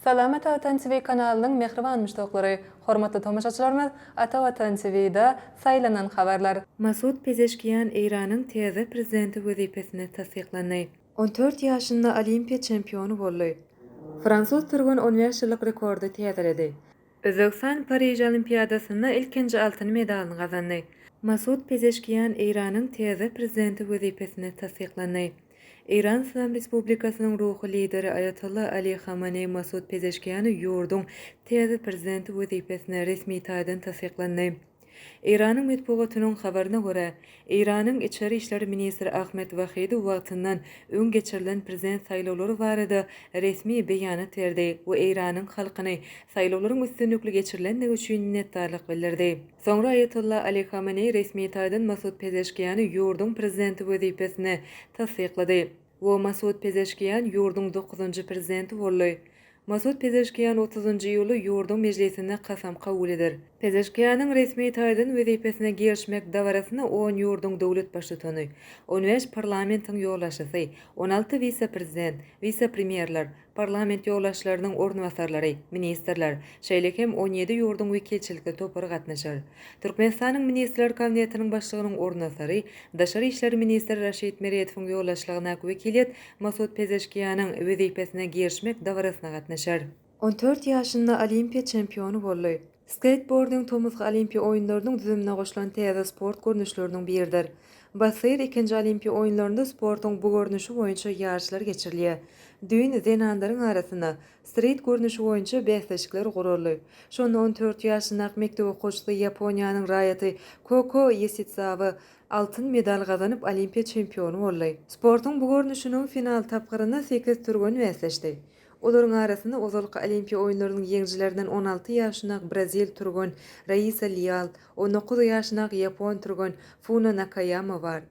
Salamat Watan TV kanalynyň mähriban muşdaklary, hormatly tomaşaçylarymyz, Ata Watan TV-da saýlanan habarlar. Masud Pezeşkian Eýranyň täze prezidenti wezipesine tassyklandy. On dört ýaşynda Olimpiýa çempiony boldy. Fransuz türgen on bäş ýyllyk rekordy täzeledi. Özbegistan Pariž Olimpiadasynda ilkinji altyn medalyny gazandy. Masud Pezeşkiýan Eýranyň täze prezidenti wezipesine tassyklandy. Eýran Yslam Respublikasynyň ruhy lideri Aýatolla Ali Hamaneý Masud Pezeşkiýany ýurduň täze prezidenti wezipesine resmi taýdan tassyklandy. Eýranyň metbugatynyň habaryna görä, Eýranyň içeri işler ministri Ahmed Wahidi wagtyndan öň geçirilen prezident saýlawlary barada resmi beýanat berdi we Eýranyň halkyny saýlawlaryň üstünlikli geçirilendigi üçin minnetdarlyk bildirdi. Soňra Aýatolla Ali Hameneý resmi taýdan Masud Pezeşkiýany ýurduň prezidenti wezipesine tassyklady. we Masud Pezeşkiýan ýurduň dokuzynjy prezidenti boldy. Masud Pezeşkiýan otuzynjy iýuly ýurduň mejlisinde kasam kabul eder. Pezeşkiýanyň resmi taýdan wezipesine girişmek dabarasyna on ýurduň döwlet baştutany, on bäş parlamentiň ýolbaşçysy, on alty wise-prezident, wise-premýerler, parlament ýolbaşçylarynyň orunbasarlary, ministrler, şeýle hem on ýedi ýurduň wekilçilikli topary gatnaşar. Türkmenistanyň Ministrler Kabinetiniň Başlygynyň orunbasary, daşary işler ministri Raşid Meredowyň ýolbaşçylygyndaky wekiliýet Masud Pezeşkiýanyň wezipesine girişmek dabarasyna gatnaşar. On dört ýaşynda Olimpiýa çempiony boldy. Skeýtbording tomusky Olimpiýa oýunlarynyň düzümine goşulan täze sport görnüşleriniň biridir. Basseýr ikinji Olimpiýa oýunlarynda sportuň bu görnüşi boýunça ýaryşlar geçirilýär. Düýn zenanlaryň arasynda strit görnüşi boýunça bäsleşikler guraldy. Şonda on dört ýaşyndaky mekdep okuwçysy Ýaponiýanyň raýaty Koko Ýesizawa altyn medal gazanyp, Olimpiýa çempiony boldy. Sportuň bu görnüşiniň final tapgyrynda sekiz türgen bäsleşdi. Olaryň arasynda ozalky Olimpiýa oýunlarynyň ýeňijilerinden on alty ýaşynak brazil türgen Raisa Lial, on dokuz ýaşynak ýapon türgen Funo Nakaýama bar.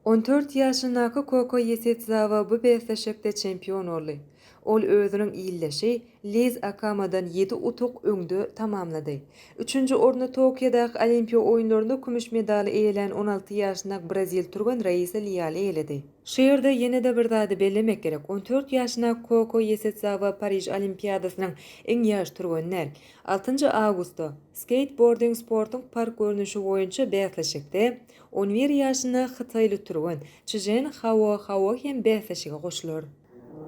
On dört ýaşynaky Koko Ýesitzawa bu bäsleşikde çempion boldy. Ol özüniň ildeşi Liz Akamadan ýedi utuk öňde tamamlady. Üçünji orny Tokiodaky Olimpiýa oýunlarynda kümüş medaly eýelän on alty ýaşynak brazil türgen Raisa Lial eýeledi. Şu ýerde ýene-de bir zady bellemek gerek, on dört ýaşyna Koko Ýesedzawa Pariž Olimpiadasynyň iň ýaş türgeni däl. Altynjy awgustda, skeýtbording sportuň park görnüşi boýunça bäsleşikde, on bir ýaşyna hytaýly türgen Çžen Hao Hao hem bäsleşige goşular.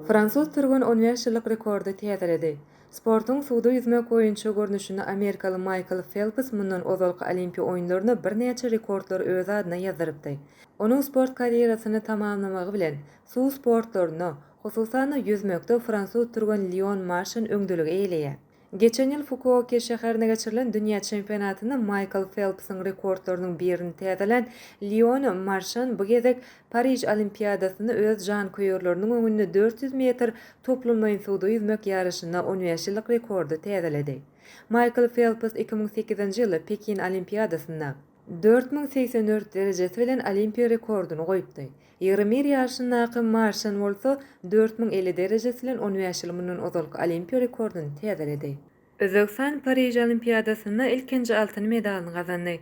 Fransuz türgen on bäş ýyllyk rekordy täzeledi. Sportuň suwda ýüzmek boýunça görnüşinde amerikaly Maýkl Felps mundan ozalky Olimpiýa oýunlarynda birnäçe rekordlary öz adyna ýazdyrypdy. Onuň sport karýerasyny tamamlamagy bilen, suw sportlarynda, hususan-da, ýüzmekde fransuz türgeni Lion Marşan öňdeligi eýeleýär. Geçen ýyl Fukuoke şäherinde geçirilen dünýä çempionatynda Maýkl Felpsiň rekordlarynyň birini täzelän Lion Marşan bu gezek Pariž Olimpiadasyny öz janköýerleriniň öňünde dört ýüz metr toplumlaýyn suwda ýüzmek ýaryşynda on bäş ýyllyk rekordy täzeledi. Maýkl Felps iki müň sekizinji ýyly Pekin Olimpiadasynda, dört müň segsen dört derejesi bilen Olimpiýa rekordyny goýupdy. Ýeromir ýaryşyndaky Marşan bolsa dört müň elli derejesi bilen on bäş ýyl mundan ozalky Olimpiýa rekordyny täzeledi. Özbegistan Pariž Olimpiadasynda ilkinji altyn medalyny gazandy.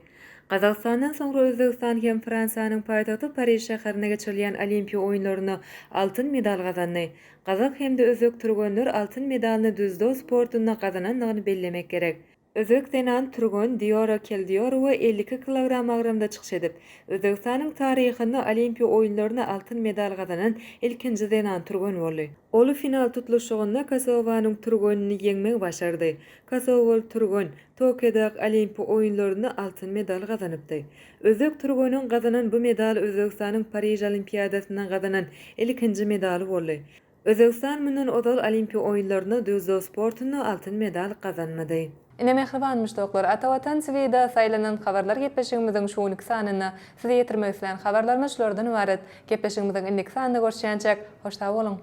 Gazagystandan soňra Özbegistan hem Fransiýanyň paýtagty Pariž şäherinde geçirilýän Olimpiýa oýunlarynda altyn medal gazandy. Gazak hem-de özbek türgenler altyn medalyny düzdo sportunda gazanandygyny bellemek gerek. Özbek zenan türgen Diýora Keldiýorowa elli iki kilogram agramda çykyş edip, Özbegistanyň taryhynda Olimpiýa oýunlarynda altyn medal gazanan ilkinji zenan türgen boldy. Ol final tutluşygynda Kosowanyň türgenini ýeňmegi başardy. Kosowaly türgen Tokiodaky Olimpiýa oýunlarynda altyn medal gazanypdy. Özbek türgeniň gazanan bu medaly Özbegistanyň Pariž Olimpiadasynda gazanan ilkinji medaly boldy. Özbegistan mundan ozal Olimpiýa oýunlarynda dzýudo sportunda altyn medal gazanmady. Ine mähriban muşdaklar, Ata Watan TV-da saýlanan habarlar gepleşigimiziň şu günki sanynda size ýetirmek islän habarlarymyz şulardan ybarat. Gepleşigimiziň indiki sanynda görüşýänçäk, hoş sag boluň!